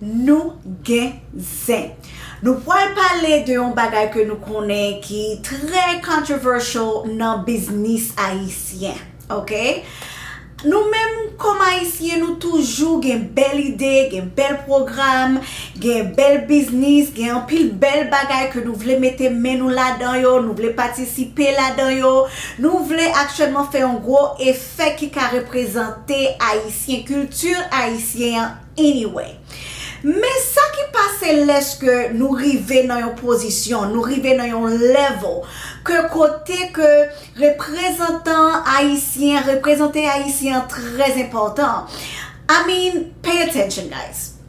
Nou gen zen. Nou pwal pale de yon bagay ke nou konnen ki trè controversial nan biznis ayisyen. Ok. Nou menm kòm ayisyen nou toujou gen bèl ide, gen bèl pwogram, gen bèl biznis, gen anpil bèl bagay ke nou vle mete men nou ladan yo, nou vle patisipe ladan yo. Nou vle aktyèlman fè yon gwo efè ki ka reprezante ayisyen, kilti ayisyen an. Anyway. Men sa ki pase lèske nou rive nan yon pozisyon, nou rive nan yon level ke kote ke reprezantan ayisyen, reprezante ayisyen an trè enpòtan. I mean, pay attention guys.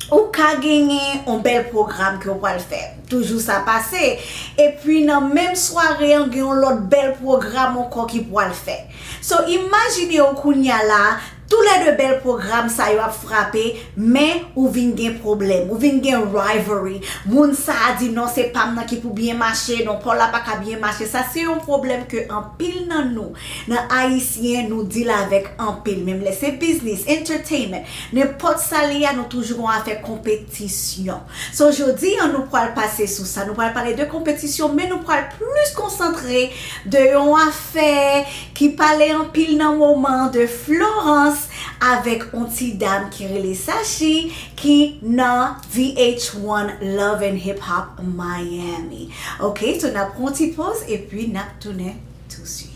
Ou ka genyen yon bèl pwogram ke ou pwal fè. Toujou sa pase. Epi nan menm sware an gen yon lòt bèl pwogram ankò ki pwal fè. So imajine ou kounya la, Tou lè 2 bèl pwogram sa yo ap frape men ou vin gen pwoblèm, ou vin gen rivalry, moun sa a di non se pam nan ki pou byen mache, non paw la pa ka byen mache, sa se yon pwoblèm ke anpil nan nou, nan ayisyen nou deal avèk anpil, menm lè se biznis, entertainment, nenpòt sa li a nou toujou gon afè konpe. tisyon. So jodi an nou pwal pase sou sa, nou pwal pale de konpetisyon men nou pwal plis konsantre de yon afè ki pale anpil nan moman de Florans avèk on ti dam ki rele Sachi ki nan VH1 Love and Hip Hop Miami. Ok so nap pran on ti poz epi nap tounen tou swit.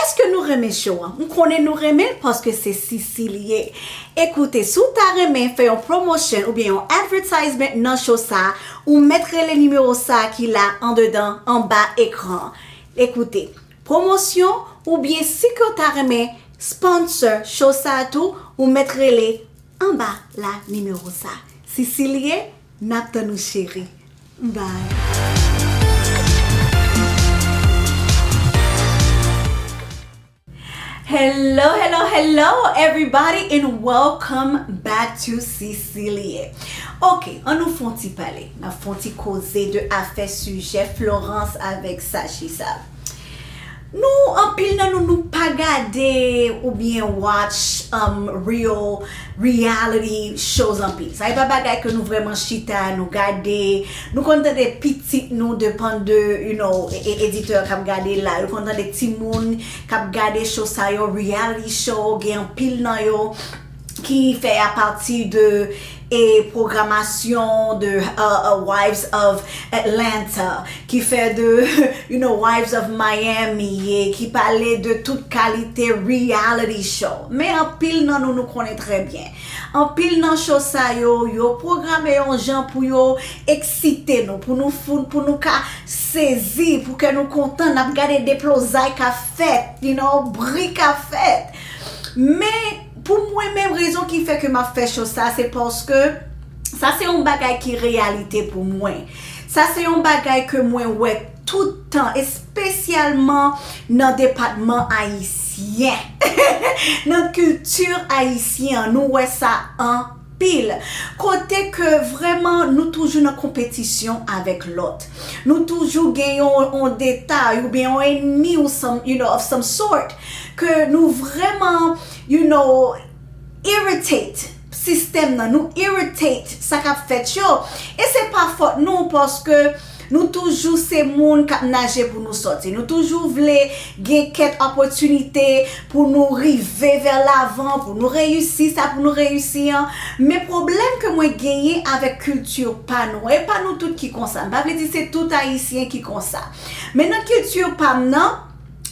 Eske nou renmen show an? M konnen nou renmen l paske se Sisi li ye. E koute, si w ta renmen fè yon promotion oubyen yon advertisement nan show sa, ou mèt rele nimewo sa ki la andedan anba ekran an. E koute, promosyon oubyen si ke w ta renmen sponsor show sa tou, ou mèt rele anba la nimewo sa. Sisi li ye, n ap tann ou cheri. Bye. Hello hello hello everybody and welcome back to Cecilie Ok an nou fon ti pale nap fon ti koze de afè sijè Florence avèk Sachi sa. Nou anpil nan nou nou pa gade ou byen watch real reality shows anpil sa e pa bagay ke nou vreman chita nou gade nou konn tande pitit nou depan de you know editè kap gade la yo konn tande timoun kap gade show sa yo reality show gen anpil nan yo ki fè a pati de e pwogramasyon de Wives of Atlanta ki fè de Wives of Miami e ki pale de tout kalite reality show men anpil nan nou nou konnen trè byen anpil nan show sa yo yo pwograme yon jan pou yo eksite nou pou nou fou pou nou ka sezi pou kè nou kontan nap gade deplozay kap fèt bri kap fèt men. Pou mwen menm rezon ki fè ke map fè cho sa se paske sa se yon bagay ki reyalite pou mwen. Sa se yon bagay ke mwen wè tout tan espesyalman nan depatman ayisyen. Nan kilti ayisyen an nou wè sa an. pil kote ke vreman nou toujou nan konpetisyon avek lot nou toujou gen yon on detay ou byen on enmi ou some you know of some sort ke nou vreman you know irritate sistem nan nou irritate sa kap fet yo e se pa fot nou paske Nou toujou se moun k ap naje pou nou sòti. Nou toujou vle gen kèt opòtinite pou nou rive vè lavan, pou nou reyisi sa pou nou reyisi an. Men pwoblèm ke mwen genyen avèk kilti pa nou an, e pa nou tout ki konsa, m pa vle di se tout Ayisyen ki konsa. Men nan kilti pa m nan,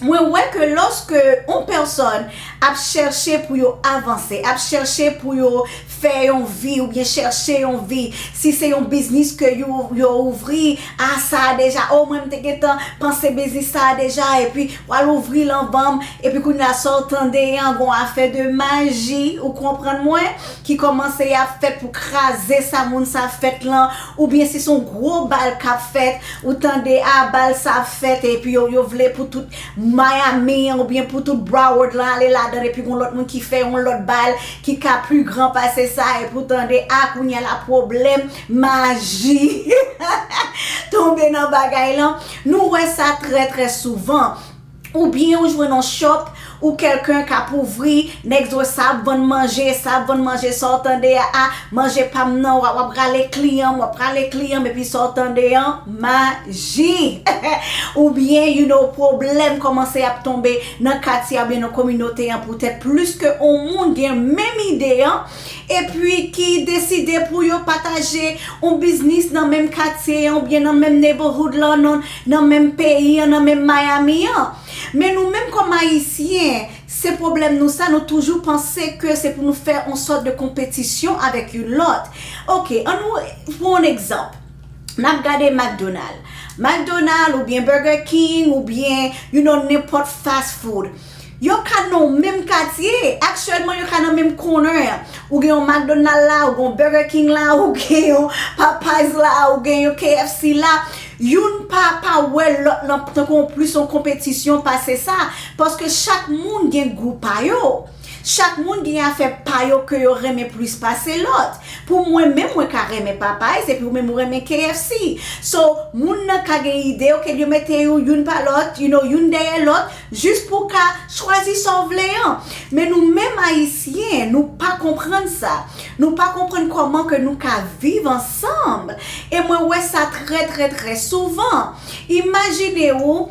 mwen wè ke lòske yon pèsòn ap chèche pou yo avanse, ap chèche pou yo fè yon vi oubyen chèche yon vi, si se yon biznis ke yo ouvri, a sa a deja, o mwen m te gentan panse biznis sa a deja, epi w al ouvri l anvan m, epi kounye a sa w tande an gon afè de maji, ou konprann mwen, ki kòmanse ap fèt pou kraze sa moun sa fèt lan, Oubyen si son gwo bal kap fèt ou tande a bal sa ap fèt epi yo yo vle pou tout Miami an oubyen pou tout Broward lan ale ladann epi gon lòt moun ki fè yon lòt bal ki ka pi gran pase sa epi ou tande a kounya la pwoblèm maji tonbe nan bagay lan nou wè sa trè trè souvan. Ou byen ou jwenn yon shop ou kelken kap ouvri nèg di w sa ap vann manje sa ap vann manje sa w tande aa manje pa m nan wap rale kliyan m wap rale kliyan m epi sa w tande an maji ou byen you know pwoblèm kòmanse ap tonbe nan katye a ou byen nan kominote an poutèt plis ke yon moun gen menm ide an. epi ki deside pou yo pataje yon biznis nan menm katye an oubyen nan menm neighborhood lan, nan menm peyi an, nan menm Miami an. Men nou menm kòm Ayisyen, se pwoblèm nou sa, nou toujou panse ke se pou nou fè yon sòt de konpetisyon avèk youn lòt. Ok, an nou pran yon egzanp, n ap gade McDonald. McDonald oubyen Burger King oubyen you know nenpòt fast food. Yo ka nan yon menm katye, aktyèlman yo ka nan menm kònè. Ou gen yon McDonald la, ou gen yon Burger King la, ou gen yon Popeyes la, ou gen yon KFC la. Youn pa pa wè lòt lan tankou yon plis yon konpetisyon pase sa, paske chak moun gen gou pa yo. Chak moun gen afè pa yo ke yo renmen plis pase lòt. Pou mwen menm, mwen ka renmen Popeyes epi ou menm ou renmen KFC. So, moun nan ka gen ide, ok, yo mete yo youn pa lòt, you know, youn dèyè lòt. Jis pou w ka chwazi sa w vle an. Men nou menm Ayisyen, nou pa konprann sa. Nou pa konprann kòman ke nou ka viv ansanm. E mwen wè sa trè trè trè souvan. Imajine ou,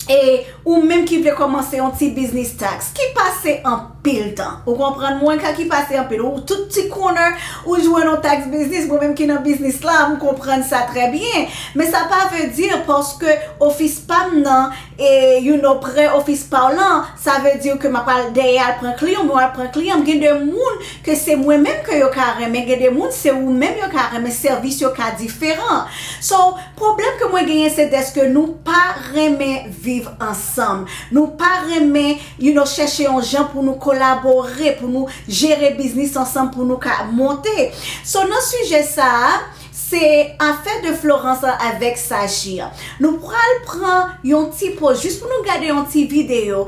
e ou menm ki vle kòmanse yon ti biznis tax, ki pase anpil tan. Ou konprann mwen? Ka ki pase anpil. Ou tout ti corner, ou jwenn yon tax biznis. Mwen menm ki nan biznis la, m konprann sa trè byen. Men sa pa vle di paske ofis pa m nan, E you know prè office paw lan sa vle diw ke map al dèyè al pran kliyan mwen al pran kliyan m gen de moun ke se mwen menm ke yo ka renmen gen de moun se ou menm yo ka renmen sèvis yo ka diferan so pwoblèm ke mwen genyen se dèske nou pa renmen viv ansanm nou pa renmen you know chèche yon jan pou nou kolabore pou nou jere biznis ansanm pou nou ka monte so nan sijè sa a. Se afè de Florence an avèk Sachi an. Nou pral pran yon ti poz jis pou nou gade yon ti video.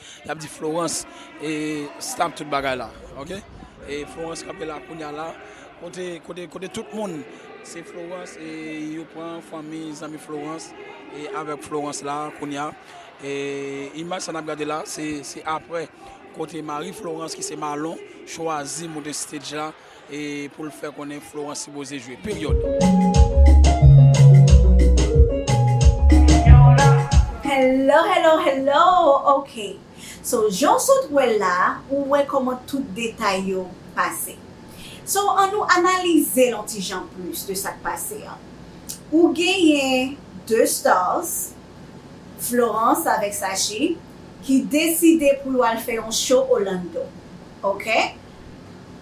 Yap di Florence e stop tout bagay la ok e Florence kanpe la kounya la kote kote kote tout moun se Florence e yo pran fanmi zanmi Florence e avèk Florence la kounya e imaj sa nap gade la se se aprè kote mari Florence ki se Malon chwazi moute stage la e pou l fè konnen Florence sipoze jwe. Hello hello hello ok so jan w sot wè l la a ou wè kòman tout detay yo pase so an nou analize l on ti jan plis de sa k pase an ou genyen 2 stars Florence avèk Sachi ki deside pou yo al fè yon show Orlando ok.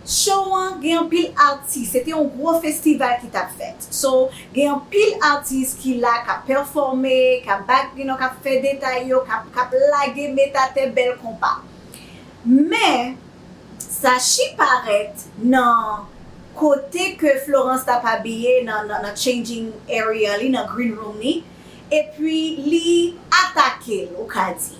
Show an gen anpil atis, se te yon gwo festival ki tap fèt. So, gen anpil atis ki la kap pèfòme, kap bat you know, kap fè detay yo, kap kap lage met atè bèl konpa. Men, sa shi parèt nan kote ke Florence tap abiye nan nan nan changing area li, nan green room li, epi li atake'l ou ka di.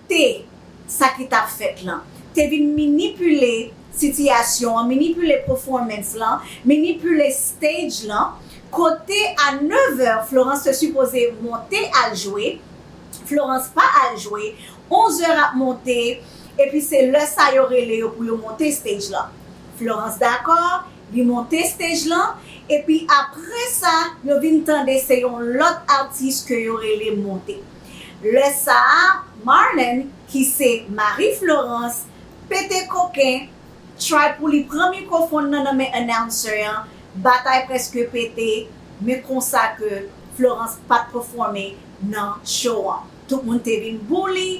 te sa ki t ap fèt lan, te vin minipile sitiyasyon an, minipile pèfòmans lan, minipile stage lan, kote a nevè Florence te sipoze monte al jwe, Florence pa al jwe, onzè ap monte, epi se lè sa yo rele yo pou yo monte stage lan. Florence dakò, li monte stage lan, epi aprè sa yo vin tande se yon lòt atis ke yo rele monte. Lè sa a, Marlène, ki se mari Florence, pete koken, try pou li pran mikwofon nan nan men announcer an, batay prèske pete, men konsa ke Florence pat pèfòme nan show an. Tout moun te vin bou li,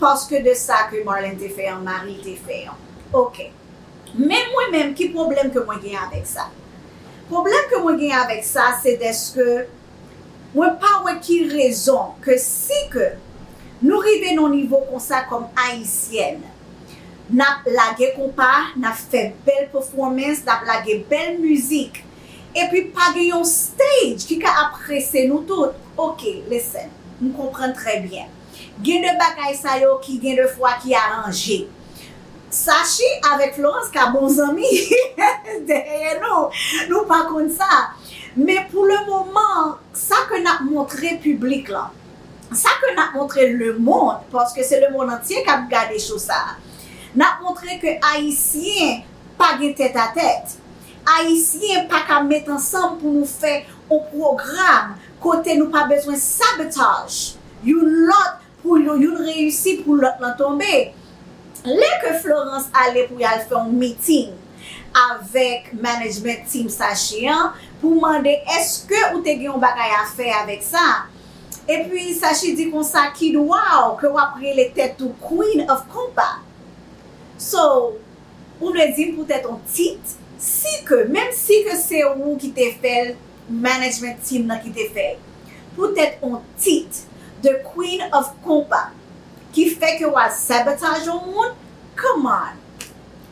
paske de sa ke Marlène te fè an, mari l te fè an. Ok. Men mwen menm, ki pwoblèm ke mwen gen avèk sa? Pwoblèm ke mwen gen avèk sa, se dèske Mwen pa wè ki rezon ke si ke nou rive nan nivo konsa kòm ayisyèn nap lage konpa, nap fè bèl pefwomens, nap lage bèl mizik epi pa gen yon stage ki ka aprese nou tout, ok listen m konprann trè byen. Gen de bagay sa yo ki gen de fwa ki aranje. Sachi avèk Florence ka bon zanmi dèyè nou, nou pa konn sa. Men pou le moman, sa ke n ap montre piblik lan, sa ke n ap montre lemonn, paske se lemonn antye k ap gade cho sa a, n ap montre ke Ayisyen pa gen tèt a tèt. Ayisyen pa ka met ansanm pou nou fè on pwogram. Kote nou pa bezwen sabotaj youn lòt pou youn reyisi pou lòt lan tonbe. Lè ke Florence ale pou yal fè yon meeting avèk management team Sache an pou mande eske ou te gen yon bagay a fè avèk sa? Epi Sache di konsa ki dwaw ke wap rele tèt ou queen of konpa? So ou vle dim poutèt yon tit si ke menm si ke se ou ki te fèl management team nan ki te fèl pou tèt on tit the queen of konpa ki fè ke wal sabotage on moun come on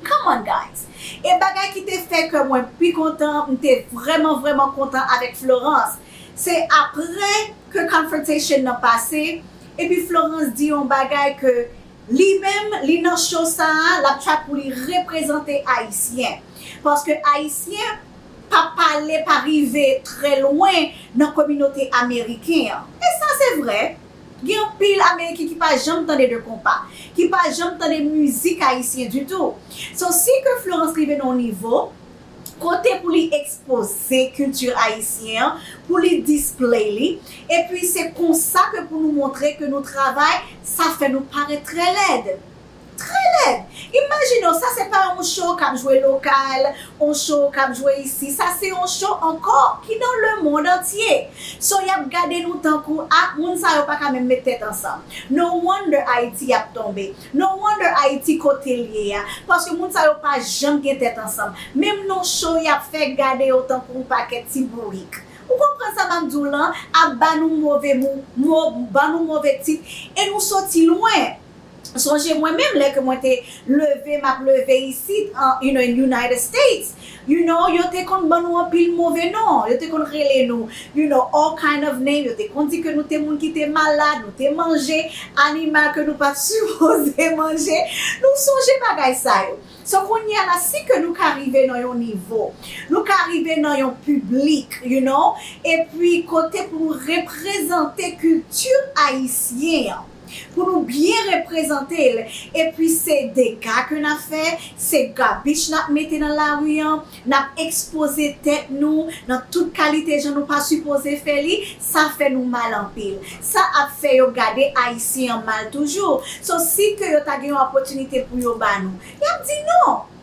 come on guys e bagay ki te fè kè mwen pi kontan m te vrèman vrèman kontan avèk Florence se aprè ke confrontation nan pase epi Florence di on bagay ke li menm li nan show sa lap try pou li reprezante ayisyen paske ayisyen pa pale, pa rive trè lwen nan kominote ameriken an. E sa se vrè. Gen anpil ameriken ki pa janm tande de konpa, ki pa janm tande mizik ayisyen ditou. So si ke Florence rive nan yon nivo kote pou li ekspoze kilti ayisyen an, pou li display li, epi se konsa ke pou nou montre ke nou travay, sa fè nou parèt trè lèd. Trè lèd! Imajine w, sa se pa yon show kap jwe lokal, yon show kap jwe isi, sa se yon show ankò ki nan le mond antye. So yap gade nou tankou, ah moun sa yo paka menm met tèt ansanm. No wonder Ayiti ap tonbe. No wonder Ayiti kote l ye a. Paske moun sa yo pa janm gen tèt ansanm. Menm nan show yap fè, gade yo tankou yon pakèt ti bourik. Ou konprann sa map di w lan? Ap ba nou move mo, ban nou move tit, e nou soti lwen. Sonje mwen menm lè ke mwen te leve map leve isit an United States, you know, yo te konn ban nou anpil move non, yo te konn rele nou, you know, all kind of name, yo te konn di ke nou te moun ki te malad, nou te manje animal ke nou pat sipoze manje, nou sonje bagay sa yo. So kounye a la si ke nou ka rive nan yon nivo, nou ka rive nan yon piblik, you know, epi kote pou nou reprezante kilti ayisyen an, pou nou byen reprezante l epi se dega ke n ap fè, se garbich n ap mete nan lari an, n ap ekspoze tèt nou nan tout kalite jan nou pa sipoze fè li, sa fè nou mal anpil. Sa ap fè yo gade Ayisyen an mal toujou. So si ke yo ta gen yon opòtinite pou yo ba nou, y ap di non!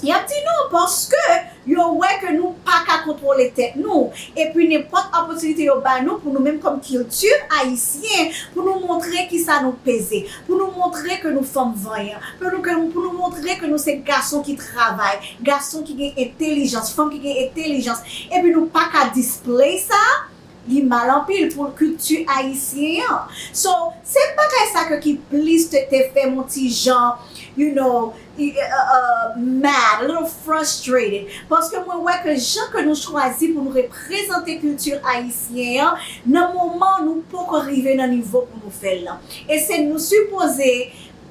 Y ap di non paske yo wè ke nou pa ka kontwole tèt nou. Epi nenpòt opòtinite yo ba nou pou nou menm kòm kilti ayisyen pou nou montre kisa nou peze, pou nou montre ke nou fanm vanyan, pou nou ke, pou nou montre ke nou se gason ki travay, gason ki gen entelijans, fanm ki gen entelijans, epi nou pa ka display sa, Li mal anpil pou kilti ayisyen an. So, se bagay sa ke ki plis te te fè m on ti jan, you know, mad, a little frustrated. Paske mwen wè ke jan ke nou chwazi pou nou reprezante kilti ayisyen an, nan moman nou poko rive nan nivo pou nou fè l lan. E se nou sipoze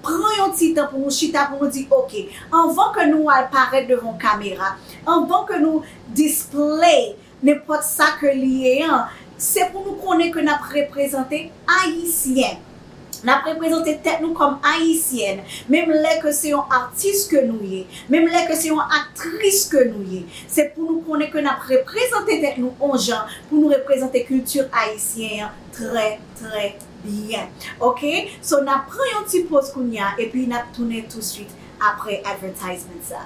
pran yon ti tan pou nou chita pou nou di ok, anvan ke nou al parèt devan kamera, anvan ke nou display Nenpòt sa ke li ye an, se pou nou konnen ke nap reprezante Ayisyen. Nap reprezante tèt nou kòm Ayisyèn, menm lè ke se yon atis ke nou ye, menm lè ke se yon aktris ke nou ye. Se pou nou konnen ke nap reprezante tèt nou on jan pou nou reprezante kilti Ayisyen an trè trè byen. Ok, so nap pran yon ti poz kounya epi nap tounen touswit apre advertisement sa.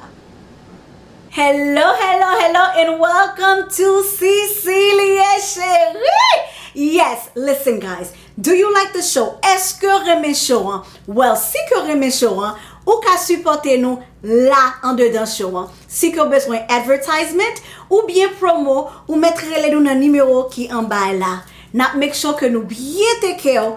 Hello hello hello and welcome to Cecilia cherie yes listen guys do you like the show eske ou renmen show an well si ke ou renmen show an ou ka sipote nou la andedan show an si ke ou bezwen advertisement ou byen promo ou met rele nou nan nimewo ki anba la nap make sure ke nou byen take care ou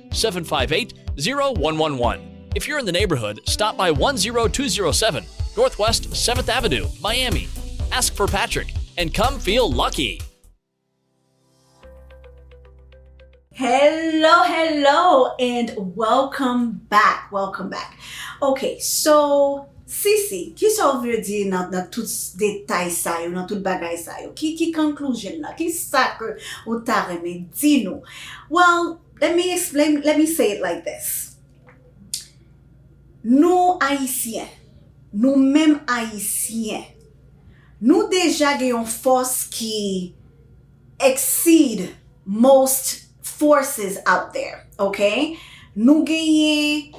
758-0111 If you're in the neighborhood, stop by 10207 Northwest 7th Avenue, Miami Ask for Patrick and come feel lucky! Hello hello and welcome back welcome back ok so Sisi kisa ou vle di nan nan tout detay sa yo nan tout bagay sa yo ki ki conclusion nan kisa ke ou ta renmen di nou well Let me explain, let me say it like this, Nou Ayisyen, nou menm Ayisyen, nou deja gen yon fòs ki exceed most forces out there, ok? Nou genyen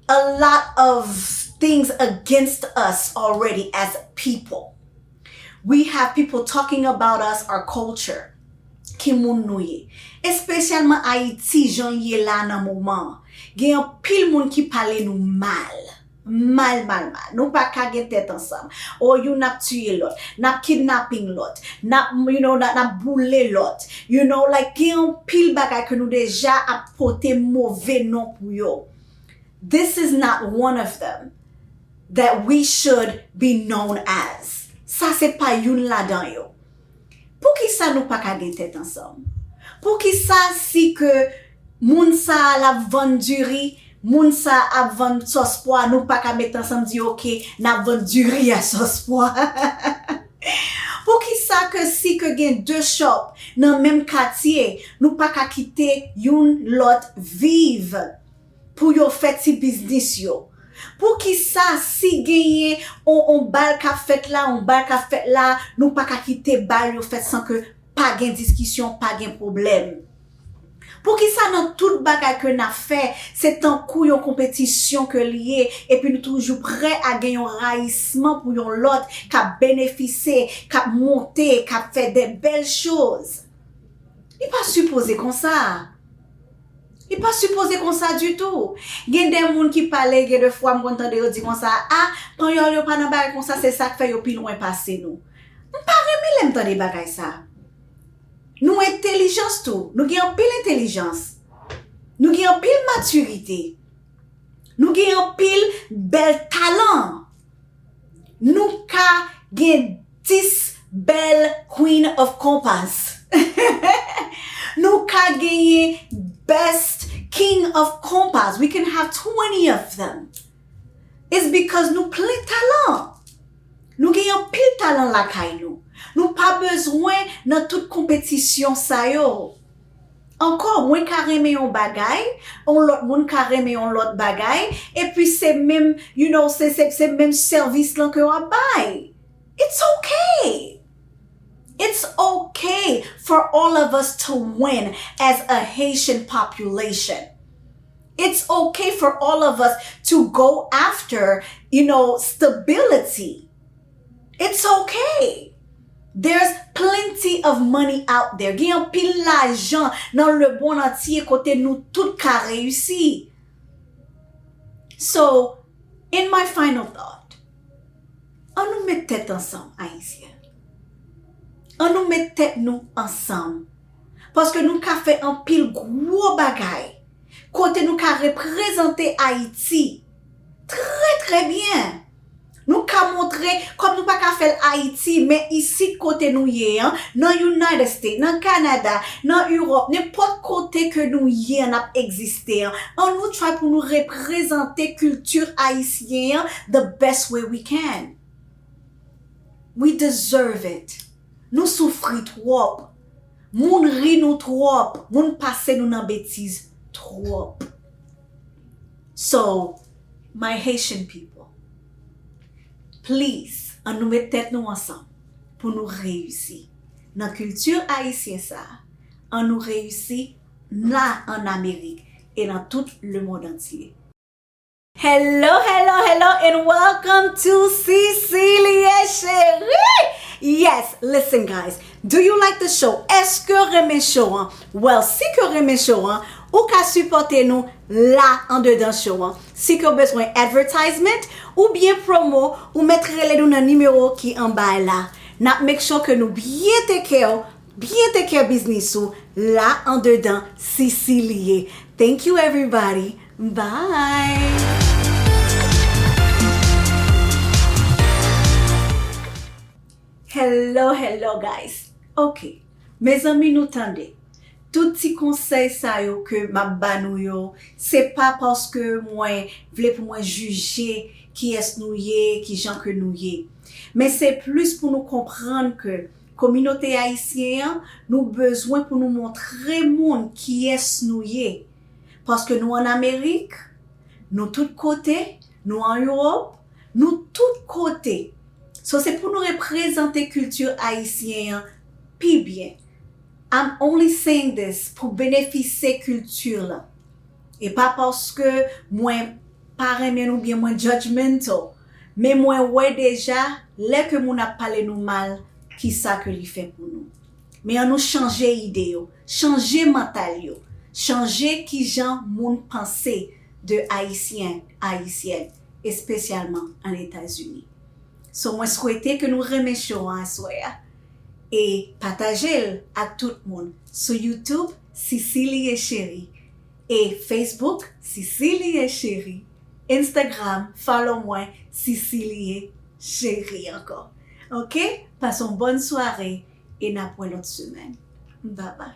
a lot of things against us already as a people. We have people talking about us our culture ki moun nou ye espesyalman ayiti janl ye la nan moman an gen anpil moun ki pale nou mal mal mal mal nou paka gen tèt ansanm oh youn ap tiye lòt nap kidnapping lòt nap you know nap boule lòt you know like gen anpil bagay ke nou deja ap pote move non pou yo this is not one of them. That we should be known as. Sa se pa youn ladan yo. Poukisa nou pa ka gen tèt ansanm? Poukisa si ke moun sa a l ap vann diri, moun sa a ap vann sòs pwa, nou pa ka met ansanm di ok, n ap vann diri a sòs pwa? Poukisa ke si ke gen de shop nan menm katye, nou pa ka kite youn lòt viv? Pou yo fè ti biznis yo. Pou kisa si genyen on on bal kap fèt la on bal kap fèt la nou paka kite bal yo fèt san ke pa gen diskisyon pa gen pwoblèm. Pou kisa nan tout bagay ke nap fè se tankou yon konpetisyon ke li ye epi nou toujou prè a gen yon rayisman pou yon lòt kap benefise kap monte kap fè dè bèl choz. Li pa sipoze konsa. Li pa sipoze konsa ditou. Gen de moun ki pale gen de fwa m konn tande yo di konsa ah panyòl yo pa nan bagay konsa se sak fè yo pi lwen pase nou. M pa renmen lè m tande bagay sa. Nou entelijans tou, nou gen anpil entelijans. Nou gen anpil matirite. Nou gen anpil bèl talan. Nou ka gen 10 bèl Queen of Compas. Nou ka genyen best King of Compas. We can have 20 of them. It's because nou plen talan. Nou gen anpil talan lakay nou. Nou pa bezwen nan tout konpetisyon sa yo. Ankò, mwen ka renmen yon bagay, yon lòt moun ka renmen yon lòt bagay, epi se menm, you know, se, se, se menm sèvis lan ke yo ap bay. It's ok! It's ok for all of us to win as a Haitian population. It's ok for all of us to go after, you know, stability. It's ok! There's plenty of money out there. Gen anpil lajan nan lemond antye kote nou tout ka reyisi. So, in my final thought, an nou met tèt ansanm Ayisyen. An nou met tèt nou ansanm. Paske nou ka fè anpil gwo bagay kote nou ka reprezante Ayiti trè trè byen. Nou ka montre, kòm nou pa ka fè l Ayiti, men isit kote nou ye an, nan United States, nan Kanada, nan Europe, nenpòt kote ke nou ye an, n ap egziste an, an nou try pou nou reprezante culture Ayisyen an the best way we can. We deserve it. Nou soufri twòp. Moun ri nou twòp. Moun pase nou nan betiz twòp. So, My Haitian people please an nou met tèt nou ansanm pou nou reyisi nan culture ayisyen sa an nou reyisi la an amerik e nan tout le mond antye. Hello hello hello and welcome to Cecilie Cherie yes listen guys do you like the show eskew renmen show an well si ke w renmen show an ou ka sipòte nou la andedan show an si ke ou bezwen advertisement ou byen promo ou mèt rele nou nan nimewo ki anba a la nap make sure ke nou byen take care ou byen take care biznis ou la andedan sisi li ye thank you everybody bye. Hello hello guys ok. Mezanmi nou tande. Tout ti konsèy sa yo ke map ba nou yo se pa paske mwen vle pou mwen jije kiyès nou ye, kijan ke nou ye. Men se plis pou nou konprann ke kominote ayisyen an nou bezwen pou nou montre moun kiyès nou ye. Paske nou an Amerik, nou tout kote, Nou an Europe, nou tout kote. So se pou nou reprezante culture Ayisyen an pi byen. I'm only saying this pou benefise culture lan. E pa paske mwen pa renmen nou byen mwen judgmental. Men mwen wè deja lè ke moun ap pale nou mal ki sa ke li fè pou nou. Men an nou chanje ide yo, chanje mental yo, chanje kijan moun panse. de Ayisyen, Ayisyèn, espesyalman an Etazini. So mwen swete ke nou renmen show an aswè a e pataje l ak tout moun sou YouTube Cicilie Cherie e Facebook Cicilie Cherie, Instagram follow mwen Cicilie Cherie ankò ok, pase yon bòn sware e nap wè lòt semèn bye bye.